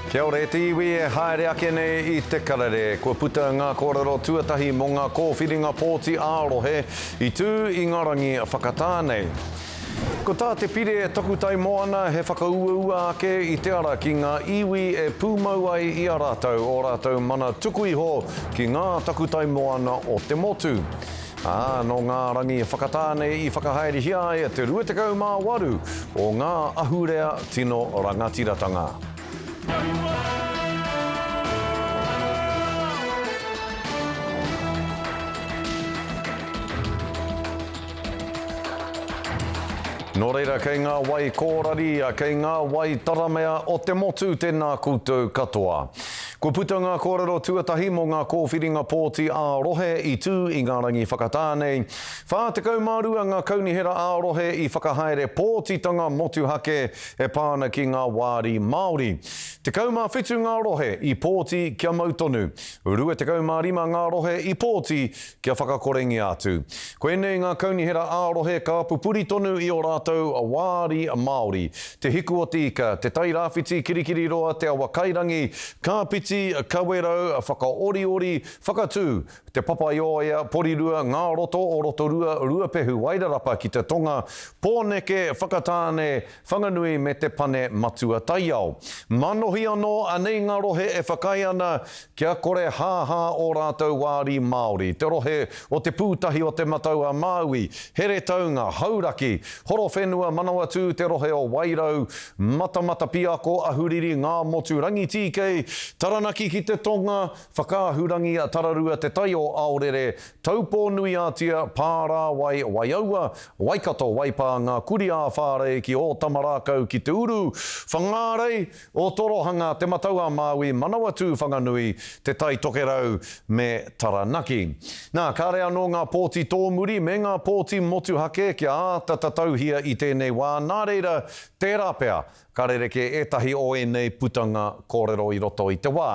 Kia ora e te iwi e haere ake nei i te karere. Kua puta ngā kōrero tuatahi mō ngā kōwhiringa pōti ā-rohe i tū i ngā rangi whakatā nei. Ko tā te pire takutai moana he whakauaua ake i te ara ki ngā iwi e pūmau ai i a rātou ō rātou mana tuku iho ki ngā takutai moana o te motu. ā, nō ngā rangi whakatāne i whakahaerehia ai te 28 o ngā ahurea tino rangatiratanga. Nō reira, kei ngā wai kōrari, kei ngā wai taramea o te motu tēnā koutou katoa. Kua puta ngā kōrero tuatahi mō ngā kōwhiringa pōti ā-rohe i tū i ngā rangi whakatā nei. 42 ngā kaunihera ā-rohe i whakahaere pōtitanga motuhake e pā ana ki ngā wāri Māori. 17 ngā rohe i pōti kia mau tonu. 25 ngā rohe i pōti Kia whakakorengia atu. Koinei ngā kaunihera ā-rohe ka pupuri tonu i ō rātou wāri Māori, Te Hiku-o-te-Ika, Te Tai Rāwhiti, Kirikiriroa, Te Awakairangi, Kāpiti, Kawerau, Whakaoriori, Whakatū, Te Papaioea, Porirua, Ngā Roto o Rotorua, Ruapehu, Wairarapa ki te tonga, Pōneke, Whakatāne, Whanganui me Te Pane Matua Taiao. Manohi anō anei ngā rohe e whakaae ana kia kore hāhā ō rātou wāri Māori, te rohe o Te Pūtahi o Te Matau a Māui, Heretaunga, Hauraki, Horowhenua, Manawatū, te rohe o Wairau, Matamatapiako, Ahuriri, Ngāmotu, Rangitīkei, Taranaki ki te tonga, Whakaahurangia Tararua Te Tai o Aorere, Taupō-nui-ā-Tia, Pārāwai, Waiaua, Waikato, Waipā, Ngā Kurī-ā-Whārei, ki Ōtamarākau, ki Te Uru, Whangārei, Ōtorohanga, Te Matau-a-Māui, Manawatū-Whanganui, Te Tai Tokerau me Taranaki. Nā, kāre anō ngā pōti tōmuri me ngā pōti motuhake kia āta tatauhia i tēnei wā, nā reira, tērā pea, Ka rerekē ētahi o ēnei putanga kōrero i roto i te wā.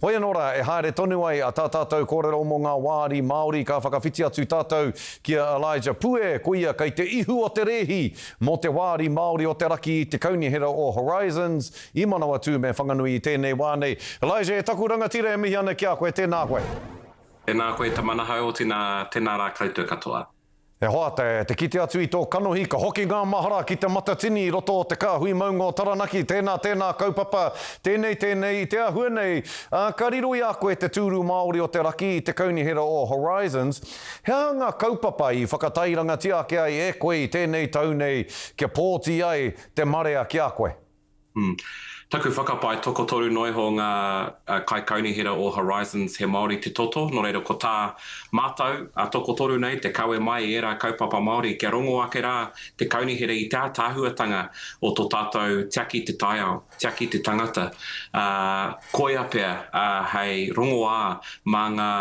Hoi anō rā, e haere tonu ai a tā tātou kōrero mō ngā wāri Māori, ka whakawhiti atu tātou ki a Elijah Pue, koia kei te ihu o te rēhi mō te wāri Māori o te raki i te Kaunihera o Horizons i Manawatū me Whanganui i tēnei wā nei. Elijah, e taku rangatira e mihi ana ki a koe, tēnā koe. Tēnā koe Tamanaha Otina, tēnā rā koutou katoa. E hoa, te, te kite atu i tō kanohi, ka hoki ngā mahara ki te matatini i roto o te kāhui maunga o Taranaki, tēnā, tēnā kaupapa, tēnei, tēnei, i te āhua nei, ā, ka riro i a koe te tūru Māori o te raki i te kaunihera o Horizons, he aha ngā kaupapa i whakatairangatia ake ai e koe i tēnei tau nei kia pōti ai te marea ki a koe? Taku whakapae, tokotoru noa iho ngā kaikaunihera o Horizons he Māori te toto, nō reira ko tā mātou a tokotoru nei te kawe mai i ērā kaupapa Māori kia rongo ake rā te kaunihera i te ātaahuatanga o tō tātou tiaki te taiao, tiaki te tangata, ā, koia pea hei rongoā mā ngā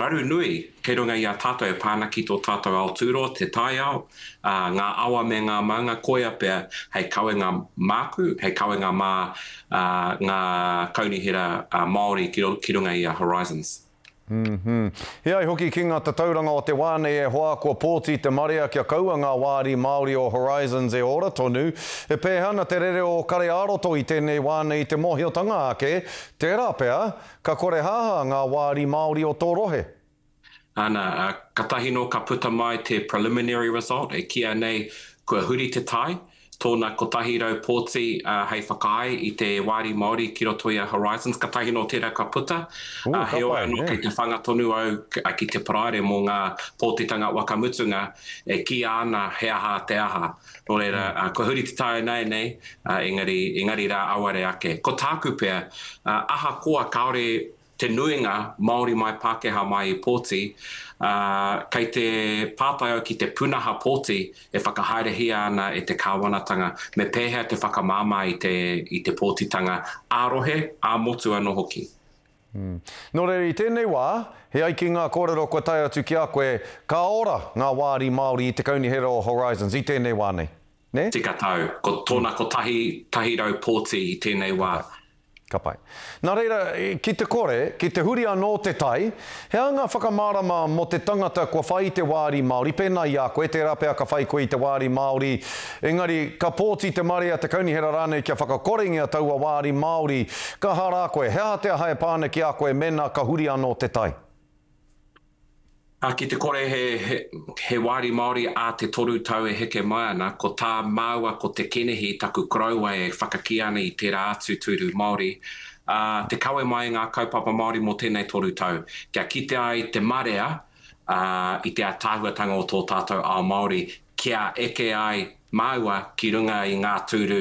raru nui kei runga i a tātou e pā ana ki tō tātou aotūroa, te taiao. ā, ngā awa me ngā maunga koia pea hei kawenga māku, hei kawenga mā ngā kaunihera Māori ki runga i a Horizons. E ai hoki ki ngā tatauranga o te wā nei e hoa, kua pōti te marea kia kaua ngā wāri Māori o Horizons e ora tonu. E pēhea ana te rere o Kare-ā-roto i tēnei wā nei i te mōhiotanga ake, tērā pea, ka korehāhā ngā wāri Māori o tō rohe? Ana, katahi no ka puta mai te preliminary result e kīa nei kua huri te tai, tōna 100 pōti hei whakaae i te Wāri Māori ki roto i a Horizons, katahi no tērā ka puta, heoi ano kei te whanga tonu au ki te Paraire mo ngā pōtitanga waka mutunga e kīa ana he aha te aha. No reira, kua huri te tai ināianei, engari, engari rā auare ake. Ko tāku pea, ahakoa kāore te nuinga, Māori mai, Pākehā mai i pōti, ā, kei te pātai au ki te pūnaha pōti e whakahaerehia ana e te kāwanatanga, me pēhea te whakamāmā i te, i te pōtitanga ā-rohe, ā-motu anō hoki. Nō reira, i tēnei wā, e ai ki ngā kōrero kua tae atu ki a koe, ka ora ngā wāri Māori i te Kaunihera o Horizons i tēnei wā nei? nē? Tika tau. Ko tōna kotahi, tahi rau pōti i tēnei wā. Ka. Ka pai. Nā reira, ki te kore, ki te huri anō te tai, he aha ngā whakamārama mō te tangata kua whai i te wāri Māori, pēnā i a koe, tērā pea ka whai koe i te wāri Māori, engari, ka pōti te marea, te kaunihera rānei kia whakakorengia taua wāri Māori, ka aha rā koe? He aha te aha e pā ana ki a koe mēnā ka huri anō te tai? Ā, ki te kore he wāri Māori ā te toru tau e heke mai ana, ko tā māua ko Te Kenehi taku koroua e whakakīa ana i tērā atu tūru Māori, ā, te kawe mai i ngā kaupapa Māori mō tēnei toru tau, kia kite ai te marea, ā, i te ātaahuatanga o tō tātou ao Māori, kia eke ai māua ki runga i ngā tūru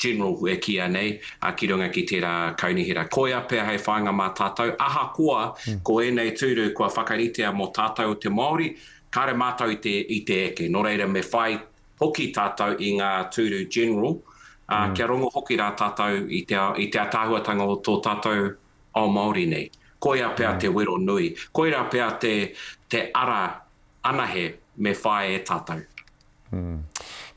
general e kīia nei, ki runga ki tērā kaunihera. Koia pea hei whāinga mā tātou, ahakoa ko ēnei tūru kua whakaritea mō tātou te Māori, kāre mātou i te eke. Nō reira me whai hoki tātou i ngā tūru general, ā, kia rongo hoki rā tātou i te ātaahuatanga o tō tātou ao Māori nei. Koia pea te wero nui. Koirā pea te ara anahe me whae e tatou.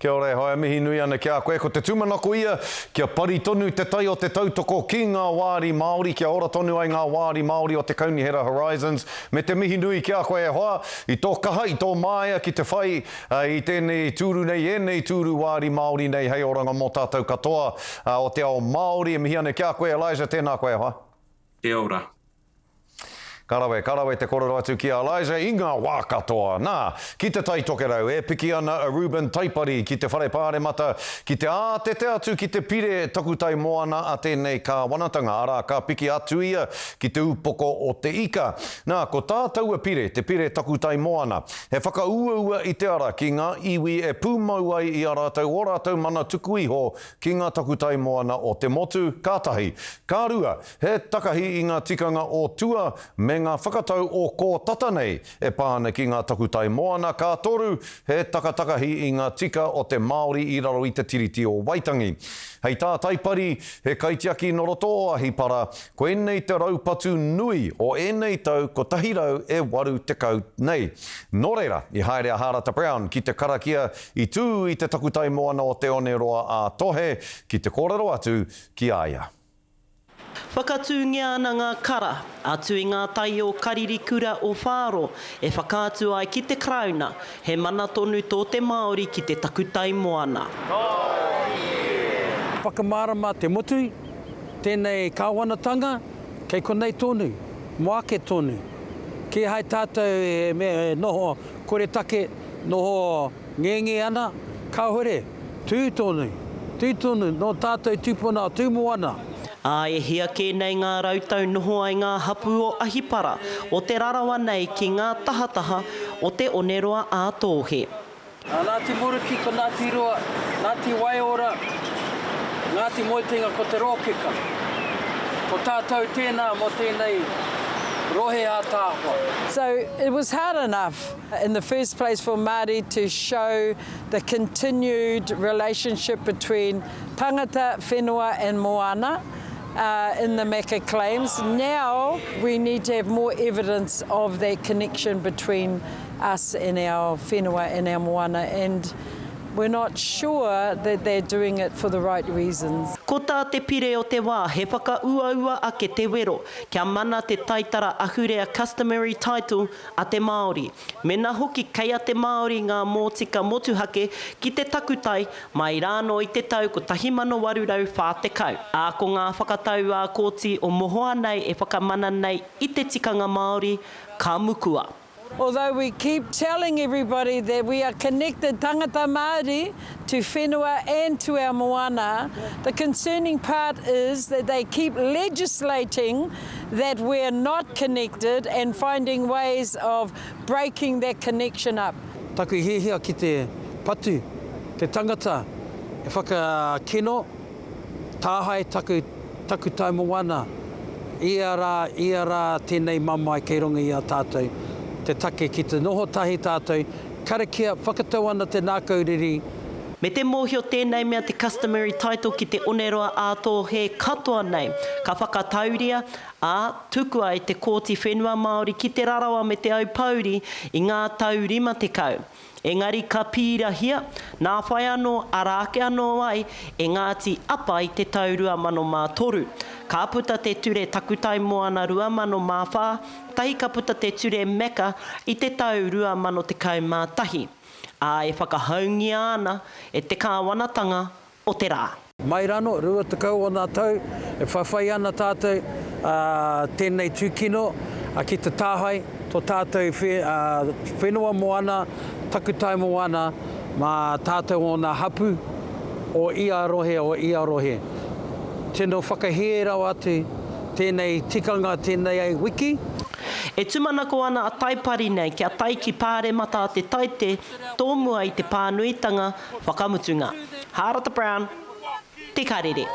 Kia ora e Haea mihi nui ana ki a koe ko te tumanako ia kia pari tonu te tai o te tautoko ki nga waari Maori kia ora tonu ai nga waari Maori o te Kaunihera Horizons me te mihi nui ki a koe e hoa i to kaha i to maea ki te whai i tenei tuuru nei enei tuuru waari Maori nei hei oranga mo tatou katoa o te ao Maori e mihi ana ki a koe Elijah tena koe e hoa. Kia ora. Ka rawe, ka rawe te korero atu ki a Elijah i nga wa katoa. Na, ki te Tai Tokerau, e piki ana a Reuben Taipari ki te Whare Paremata ki te ātete atu ki te pire takutai moana a tenei kawanatanga, ara ka piki atu ia ki te upoko o Te Ika. Na, ko tā taua pire, te pire takutai moana. He whakauaua i te ara ki nga iwi e pumau ai i a ratou o ratou mana tuku iho ki nga takutai moana o te motu, ka tahi. Ka rua, He takahi i ngā tikanga o tua me ngā whakatau o kō tata nei e pā ana ki ngā takutai moana, ka toru, he takatakahi i ngā tika o te Māori i raro i Te Tiriti o Waitangi. Hei tā Taipari, he kaitiaki nō roto o Ahipara, koinei te raupatu nui o ēnei tau 180 nei. Nō reira, i haere a Hārata Brown ki te karakia i tū i te takutai moana o Te One Roa ā-Tohe ki te kōrero atu ki a ia. Whakatūngia ana ngā kara, atu i ngā tai o Karirikura o Whāro, e whakaatu ai ki te Karauna, he mana tonu tō te Māori ki te takutai moana. Whakamārama te motu, tēnei Kāwanatanga, kei konei tonu, mō ake tonu. Kīhai tātou e noho koretake, noho Ngenge ana, Kāore, tū tonu, tū tonu, nō tātou tūpuna o Tūmoana. Ā, e hia kē nei ngā rautau noho ai ngā hapū o Ahipara, o Te Rarawa nei ki ngā tahataha o Te Oneroa ā Tōhe. Nā Ngāti Muruki ko Ngāti Rua, Ngāti Waiora, Ngāti Moetenga ko Te Rōkeka. Ko tātou tēnā mō tēnei rohe ātaahua. So, it was hard enough. In the first place for Māori to show the continued relationship between tangata, whenua and moana in the Meka claims, now we need to have more evidence of that connection between us and our whenua and our moana and we're not sure that they're doing it for the right reasons. Ko tā te Pire o te wā he whakauaua ake te wero kia mana te taitara ahurea customary title a te Māori, mena hoki kei a te Māori ngā mōtika motuhake ki te takutai mai rānō i te tau 1840, ā, ko ngā whakatau ā Kōti o Mohoa nei e whakamana nei i te tikanga Māori, ka mukua. Although we keep telling everybody that we are connected tangata Māori, to whenua and to our moana, the concerning part is that they keep legislating that we're not connected and finding ways of breaking that connection up. Taku hiahia ki te patu, te tangata e whakakino, tāhae taku, taku tau moana, ia rā, ia rā tēnei mamae kei runga i a tātou, te take ki te noho tahi tātou, Karakia, whakatau ana te nākau riri. Me te mōhio tēnei mea te customary title ki te oneroa ā-tōhe katoa nei. Ka whakatauria, ā, tukua e te Kōti Whenua Māori ki Te Rarawa me Te Aupōuri i ngā tau 50. Engari ka pīrahia, nā whai anō, arā ake anō ai, e Ngāti Apa i te tau 2003. Ka puta te ture Takutai Moana 2004, Tahi ka puta te Ture Mecca i te tau 2011, ā, e whakahoungia ana e te kāwanatanga o te rā. Mai rāno, rua tekau ōna tau, e whawhai ana tātou tēnei tūkino ki te tāhae tō tātou whenua moana, takutai moana mā tātou ōna hapū o ia rohe, o ia rohe. Tino whakahē rawa atu. Tēnei tikanga tēnei ai wiki. E tumanako ana a Taipari nei kia tae ki Pāremata a Te Taite tōmua i te pānuitanga whakamutunga. Hārata Brown, Te Karere.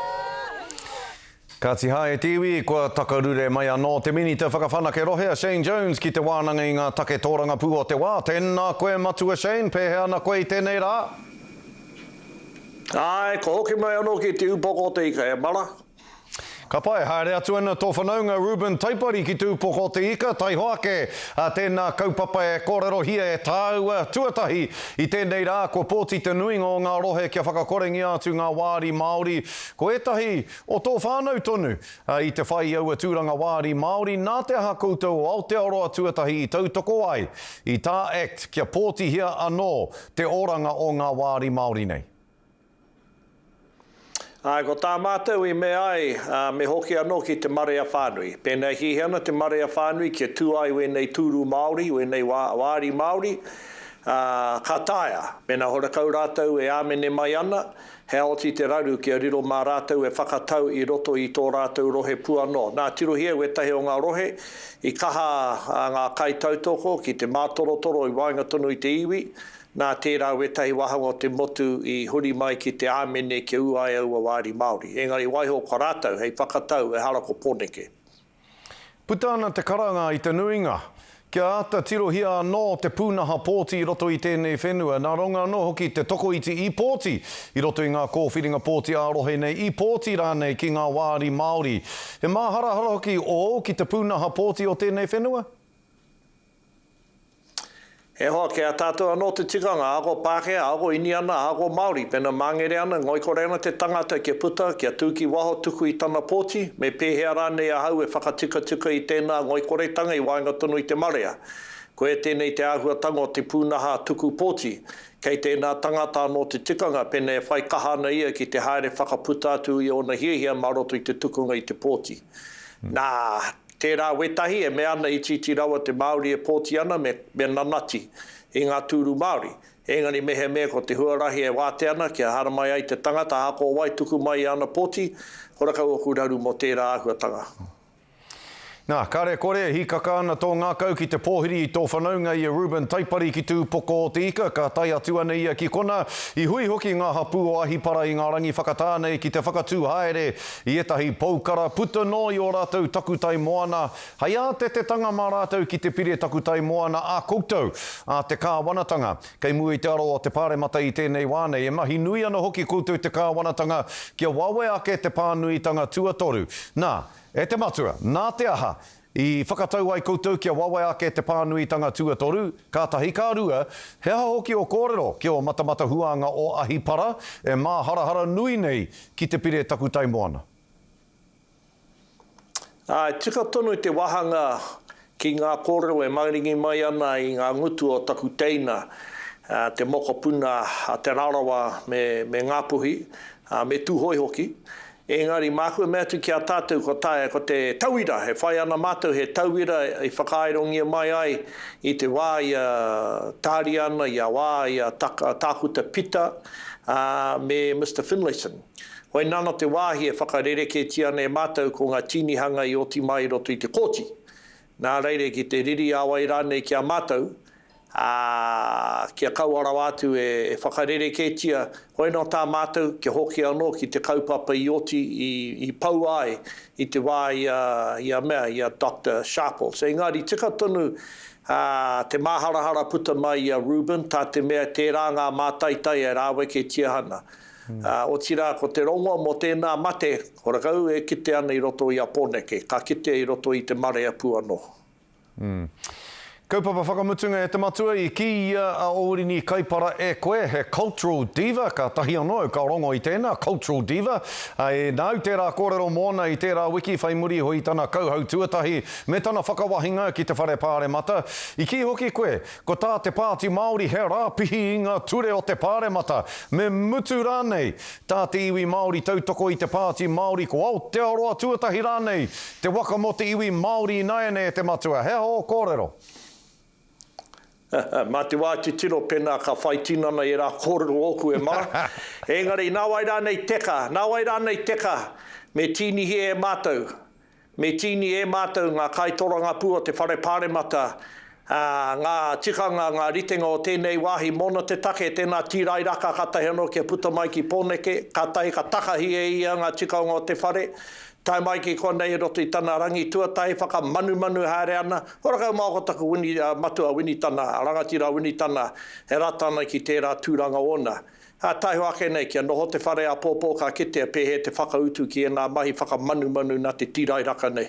Kāti hā e te iwi, kua takarure mai anō te Minita Whakawhanake Rohe a Shane Jones ki te wānanga i ngā take tōrangapū o te wā. Tēnā koe Matua Shane, pēhea ana koe i tēnei rā? Āe, kua hoki mai anō ki te upoko o te ika e Mara, Ka pai, haere atu ana tō whanaunga Reuben Taipari ki Tūpoko o te Ika, taihoa ake ā tēnā kaupapa e kōrerohia e tāua tuatahi i tēnei rā kua pōti te nuinga o ngā rohe kia whakakorengia atu ngā wāri Māori ko ētahi o tō whānau tonu i te whai i aua tūranga wāri Māori nā te aha koutou o Aotearoa tuatahi i tautoko ai i tā act kia pōtihia anō te oranga o ngā wāri Māori nei. Āe, ko tā mātou i mea ai, ā, me hoki anō ki te marea whānui. Pēnā e hiahia ana te marea whānui kia tū ai wēnei tūru Māori, wēnei wā, wāri Māori, ā, ka taea, mēnā horekau rātou e āmene mai ana, heaoti te raru kia riro mā rātou e whakatau i roto i tō rātou rohe pū anō. Nā, tirohia e wētahi o ngā rohe i kaha ngā kaitautoko ki te mātorotoro i waenga tonu i te iwi, Nā tērā wētahi wāhanga o te motu i huri mai ki te āmene kia ū ai aua wāri Māori. Engari waiho kua rātou hei whakatau ehara ko Poneke. Puta ana te karanga i te nuinga. Kia āta tirohia anō te pūnaha pōti i roto i tēnei whenua, nā runga anō hoki i te tokoiti i pōti i roto i ngā kōwhiringa pōti ā-rohe nei, i pōti rānei ki ngā wāri Māori. He māharahara hoki ōu ki te pūnaha pōti o tēnei whenua? He hoa ki a tātou anō te tikanga, ahakoa Pākehā, ahakoa Iniana, ahakoa Māori, pena māngere ana, ngoikore ana te tangata kia puta, kia tū ki waho tuku i tana pōti, me pēhea rānei ahau e whakatikatikai i tēnā ngoikoretanga i waenga tonu i te marea. Koia tēnei te āhuatanga o te pūnaha tuku pōti, kei tēnā tangata anō te tikanga pena e whai kaha ana ia ki te haere whakaputa atu i ōna hiahia mā roto i te tukunga i te pōti. Nā, Tērā wētahi e mea ana itiiti rawa te Māori e pōti ana me me nanati i ngā tūru Māori, engari mehemea ko te huarahi e wātea ana kia haramai ai te tangata ahakoa wai tuku mai i ana pōti, kora kau oku raru mō tērā āhuatanga. Nā, kare kore e hīkaka ana tō ngākau ki te pōhiri i tō whanaunga i a Reuben Taipari ki Tūpoko o te Ika, ka tae atu ana ia ki konā, i hui hoki ngā hapū o Ahipara i ngā rangi whakatā nei ki te whakatū haere I ētahi poukara puta noa i ō rātou takutai moana, hei ātetetanga mā rātou ki te pire takutai moana a koutou, a te kāwanatanga. Kei mua i te aro o te Pāremata i tēnei wā nei, e mahi nui ana hoki koutou te kāwanatanga kia wawe ake te pānuitanga tuatoru. Nā, e te Matua, nā te aha, I whakatau ai koutou kia wawe ake te pānuitanga tuatoru, kātahi ka rua, he aha hoki o kōrero ki o matamata huānga o Ahipara, e māharahara nui nei ki te pire takutai moana. Ā, e tika tonu te wāhanga ki ngā kōrero e mauringi mai ana i ngā ngutu o taku teina, te mokopuna a Te Rarawa me Ngāpuhi, me Tūhoe hoki, Engari māku e mea atu ki a tātou ko taea ko te tauira e whai ana mātou he tauira i whakaaerongia mai ai i te wā i a Tāriana, i a wā i a Tākuta Pita, ā, me Mister Finlayson. Hoi nāna te wāhi e whakarereketia ana e mātou ko ngā tīnihanga i oti mai i roto i te kōti. Nā reire ki te riri a wai rānei ki a mātou, ā, kia kaua rawa atu e whakarerekētia, hoi anō tā mātou kia hoki anō ki te kaupapa i oti i poua ai i te wā i a, i a mea, i a Doctor Sharples. Engari tika tonu te māharahara puta mai i a Reuben, tā te mea tērā ngā mātaitai e rāweketia ana. ā, otirā ko te rongoa mō tēnā mate, ko rakau e kite ana i roto i a Poneke, ka kitea i roto i te marea pū anō. Kaupapa whakamutunga E te Matua i kī i a a Orini Kaipara e koe he cultural diva, kātahi anō au ka rongo i tēnā cultural diva, ā, e nāu tērā kōrero mōna i tērā wiki whai muri iho i tana kauhau tuatahi me tana whakawahinga ki te Whare Pāremata. I kī hoki koe, Ko tā te Pāti Māori he rāpihi i ngā ture o te Pāremata, me mutu rānei, tā te iwi Māori tautoko i te Pāti Māori ko Aotearoa tuatahi rānei te waka mō te iwi Māori ināianei e te Matua. He aha ō kōrero? Mā te wā titiro pēnā ka whai tinana ērā kōrero ōku e mara. Engari, nāwai rānei teka, nāwai rānei teka, me tīnihia e mātou, Me tīni e mātou ngā kaitorangapū o te Whare Pāremata, ā, ngā tikanga, ngā ritenga o tēnei wāhi mōna te take, tēnā tīrairaka kātahi anō kia puta mai ki Pōneke, kātahi ka takahi e ia ngā tikanga o te whare, tae mai ki konei i roto i tana rangi tuatahi, whakamanumanu haere ana, kua rakau māoko taku Wini, ā, matua Winitana, rangatira Winitana e rata ana ki tērā tūranga ōna. Ā taiho ake nei, kia noho te whare āpōpō ka kitea pēhea te whakautu ki ēnā mahi whakamanumanū nā te tīrairaka nei.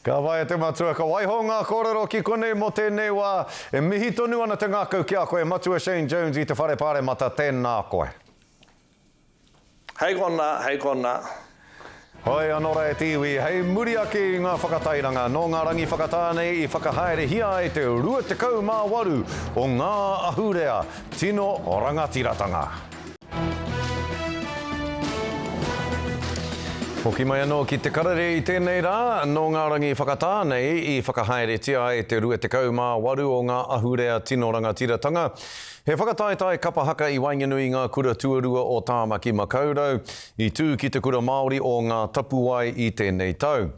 Ka waia te matua, ka waiho ngā kōrero ki konei mō tēnei wā. E mihi tonu ana te ngākau ki a koe, Matua Shane Jones i te Whare Pāremata, tēnā koe. Hei kona, hei kona. Hoea no ra e te iwi, hei muri ake i nga whakatairanga no nga rangi whakata nei i whakahaerehia ai te 28 o nga ahurea tino rangatiratanga. Hoki mai ano ki te karere i tenei ra, no nga rangi whakata nei i whakahaeretia ai te 28 o nga ahurea tino rangatiratanga. He whakataetae kapa haka i waenganui i ngā kura tuarua o Tāmaki Makaurau, i tū ki Te Kura Māori o Ngā Tapuwae i tēnei tau.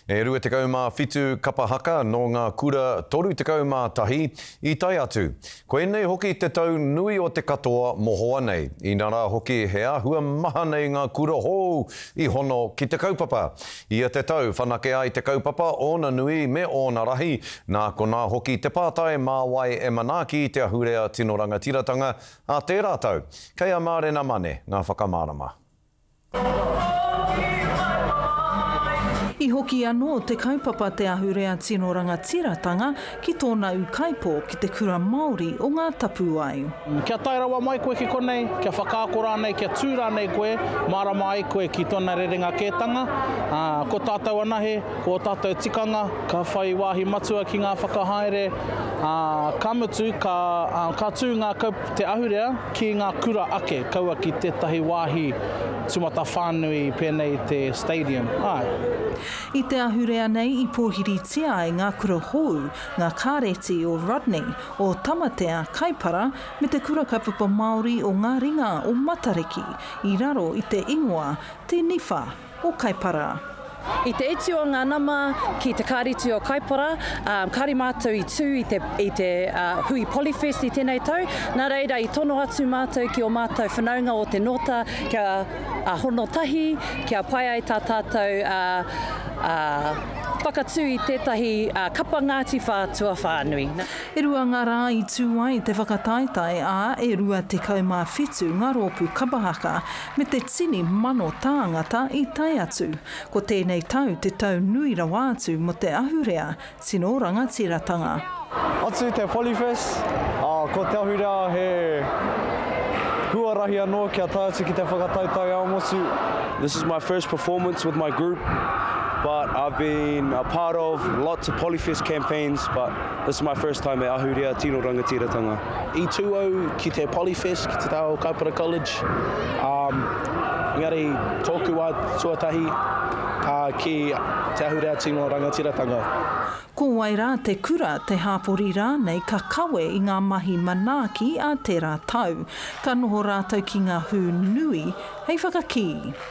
E 27 kapa haka nō ngā kura 31 i tae atu. Koinei hoki te tau nui o te katoa mohoa nei, inarā hoki he āhua maha nei ngā kura hou i hono ki te kaupapa. Ia te tau whanake ai te kaupapa, ōna nui me ōna rahi, nā konā hoki te pātai mā wai e manaaki te ahurea tino rangatiratanga a tērā tau. Kei a Mārena Mane ngā whakamārama. I hoki anō te kaupapa Te Ahurea Tino Rangatiratanga Ki tōna ūkaipō ki te kura Māori o Ngā Tapuwae. Kia tae rawa mai koe ki konei, kia whakaako rānei, kia tū rānei koe, mārama ai koe ki tōna rerenga kētanga, ā, ko tātou anahe, ko ō tātou tikanga, ka whai wāhi matua ki ngā whakahaere, ā, ka mutu, ka, ā, ka tū ngā kau, te ahurea ki ngā kura ake, kaua ki tētahi wāhi tumatawhānui pēnei i te Stadium, āe. I te ahurea nei i pōhiritia ai ngā kura hōu, ngā kāreti o Rodney, o Tamatea, Kaipara, me te Kura Kaupapa Māori o ngā ringa o Matariki, i raro i te ingoa Te Niwha o Kaipara. I te iti o ngā nama ki te Kāreti o Kaipara, kāore mātou i tū i te hui Polyfest i tēnei tau, nā reira i tono atu mātou ki ō mātou whanaunga o Te Nōta kia. a hono tahi kia pai ai tā tātou whakatū i tētahi kapa Ngāti Whātua whānui. E rua ngā rā i tū ai te whakataetae, ā, e 27 ngā rōpū kapa haka me te tini mano tāngata i tae atu. Ko tēnei tau te tau nui rawa atu mō te ahurea Tino rangatiratanga. Atu te Polyfest, ā, ko te ahurea he huarahi anō kia tae atu ki te whakatau taiao motu. This is my first performance with my group but I've been a part of lots of Polyfest campaigns but this is my first time e ahurea tino rangatiratanga. I tū au ki te Polyfest, ki te taha o Kaipara College, um, engari tōku wā tuatahi uh, ki te ahurea tino rangatiratanga. Ko wai rā te kura, te hāpori rānei ka kawe i ngā mahi manaaki a tērā tau. Ka noho rātou ki ngā hū nui hei whakakī.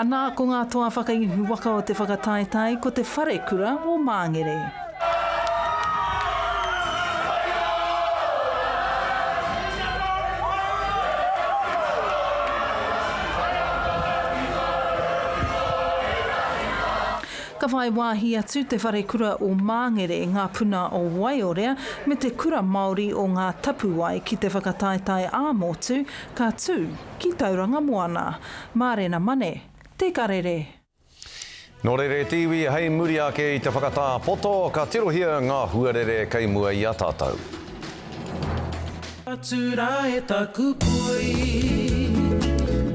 Anā ko ngā toa whakaihu waka o te whakataetae ko te Wharekura o Māngere. Ka whai wāhi atu te Wharekura o Māngere, ngā puna o Waiorea me te Kura Māori o Ngā Tapuwae ki te whakataetae ā-motu ka tū. Ki Tauranga Moana. Mārena Mane, Te Karere. Nō Rere te iwi hei muri ake i te whakatā poto, ka tirohia ngā huarere kei mua i a tātou.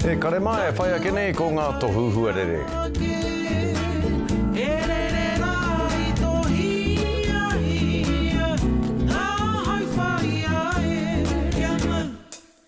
He karema e whai ake nei ko ngā tohu huarere.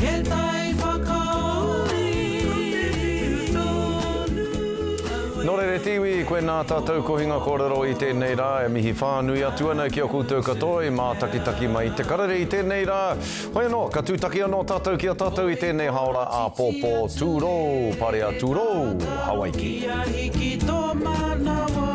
He tai whakaori tonu aua. Nō reira te iwi, koe nā tātou kohinga kōrero i tēnei rā e mihi whānui atu ana ki a koutou katoa i mātakitaki mai i te karere i tēnei rā. Hoi anō, ka tūtaki anō tātou ki a tātou i tēnei hāora āpōpō tūrou, parea tūrou, Hawaiki. Kia hiki tō manawa.